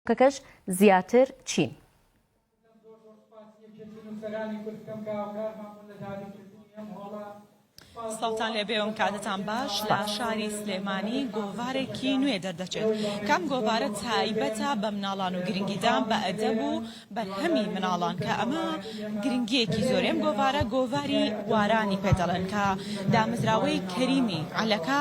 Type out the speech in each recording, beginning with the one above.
کەکەش زیاتر چین. سەرجەم زۆر زۆر سوپاسی یەکێتی نوسەرانی کورد بکەم کە هاوکارمان بوون لە دابین کردنی ئەم هۆڵە سوپاس بۆ سڵاوتان لێبێ و کاتتان باش لە شاری سلێمانی گۆڤارێکی نوێ دەردەچێت کام گۆڤارە تایبەتە بە مناڵان و گرنگیدان بە ئەدەب و بەرهەمی مناڵان کە ئەمە گرنگیەکی زۆری ئەم گۆڤارە گۆڤاری وارانی پێ دەڵێن کە دامەزراوەی کەریمی عەلەکە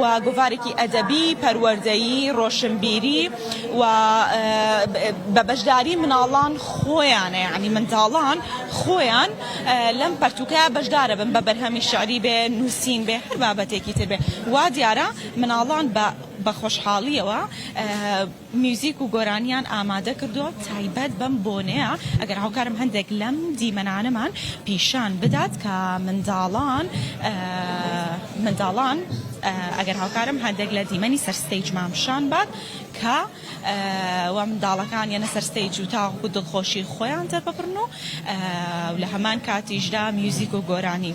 و گۆڤارێکی ئەدەبی، پەروەردەیی، ڕۆشنبیری و بە بەشداری مناڵان خۆیانە یانی منداڵان خۆیان لەم پەرتووکە بەشدارە بن بە بەرهەمی شعری بێ نووسین بێ هەر بابەتێکی تر بێ وا دیارە مناڵان بە بە خۆشحاڵیەوە میوزیک و گۆرانیان ئامادە کردووە تایبەت بەم بۆنەیە، ئەگەر هاوکارم هەندێک لەم دیمەنانەمان پیشان بدات کە منداڵان منداڵان ئەگەر هاوکارم هەندێک لە دیمەنی سەر ستەیجمان پیشان بات کە و منداڵەکان یەنە سەر ستەیج و تاوەکو دڵخۆشی خۆیان دەرببڕن و لە هەمان کاتیشدا میوزیک و گۆرانی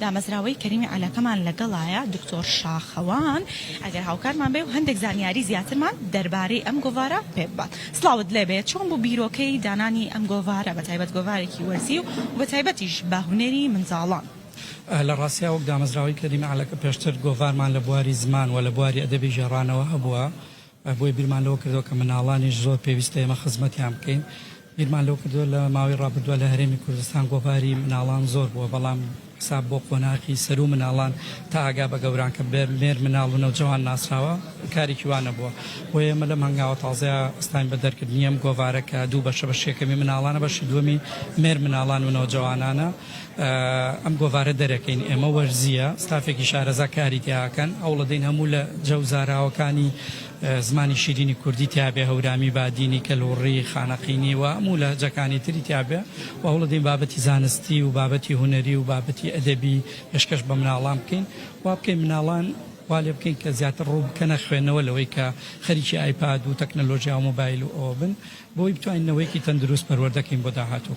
دامەزراوەی کەریمی عەلاکەمان لەگەڵایە دکتۆر شاخەوان ئەگەر هاوکارمان بێ و هەندێک زانیاری زیاترمان دەربارەی ئەم گۆڤارە پێ ببات. سڵاوت لێ بێ چۆن بوو بیرۆکەی دانانی ئەم گۆڤارە بە تایبەت گۆڤارێکی وەرزی و بە تایبەتیش بە هونەری منداڵان؟ لە ڕاستیا وەک دامەزراوەی کەریمی عەلاکە پێشتر گۆڤارمان لە بواری زمان و لە بواری ئەدەبی ژێڕانەوە هەبووە بۆیە بیرمان لەوە کردووە کە منداڵانیش زۆر پێویستە ئێمە خزمەتیان بکەین. بیرمان لەوە کردووە لە ماوەی ڕابردوودا لە هەرێمی کوردستان گۆڤاری منداڵان زۆر بووە، بەڵام حساب بۆ قۆناغی سەروو منداڵان تا ئاگا بە گەوران کە بە مێرمنداڵ و نەوجەوان ناسراوە کارێکی وا نەبووە. بۆیە ئێمە لەم هەنگاوە تازەیە ئەستاین بە دەرکردنی ئەم گۆڤارە کە دوو بەشە، بەشی یەکەمی منداڵانە، بەشی دووەمی مێرمنداڵان و نەوجەوانانە. ئەم گۆڤارە دەرەکەین ئێمە وەرزییە، ستافێکی شارەزا کاری تیا ئەکەن، هەوڵەدەین هەموو لە جە و زاراوەکانی زمانی شیرینی کوردی تیابێ، هەورامی، بادینی، کەلهوڕی، خانەقینی و هەموو لە جەکانی تری تیابێ و هەوڵەدەین بابەتی زانستی و بابەتی هونەری و بابەتی ئەدەبی پێشکەش بە مناڵان بکەین، وابکەین مناڵان والێ بکەین کە زیاتر ڕوو بکەنە خوێندنەوە لەوەی کە خەریکی ئایپاد و تەکنەلۆژیا و مۆبایل و ئەوە بن، بۆی بتوانین نەوەیەکی تەندروست پەروەردە کەین بۆ داهاتوو.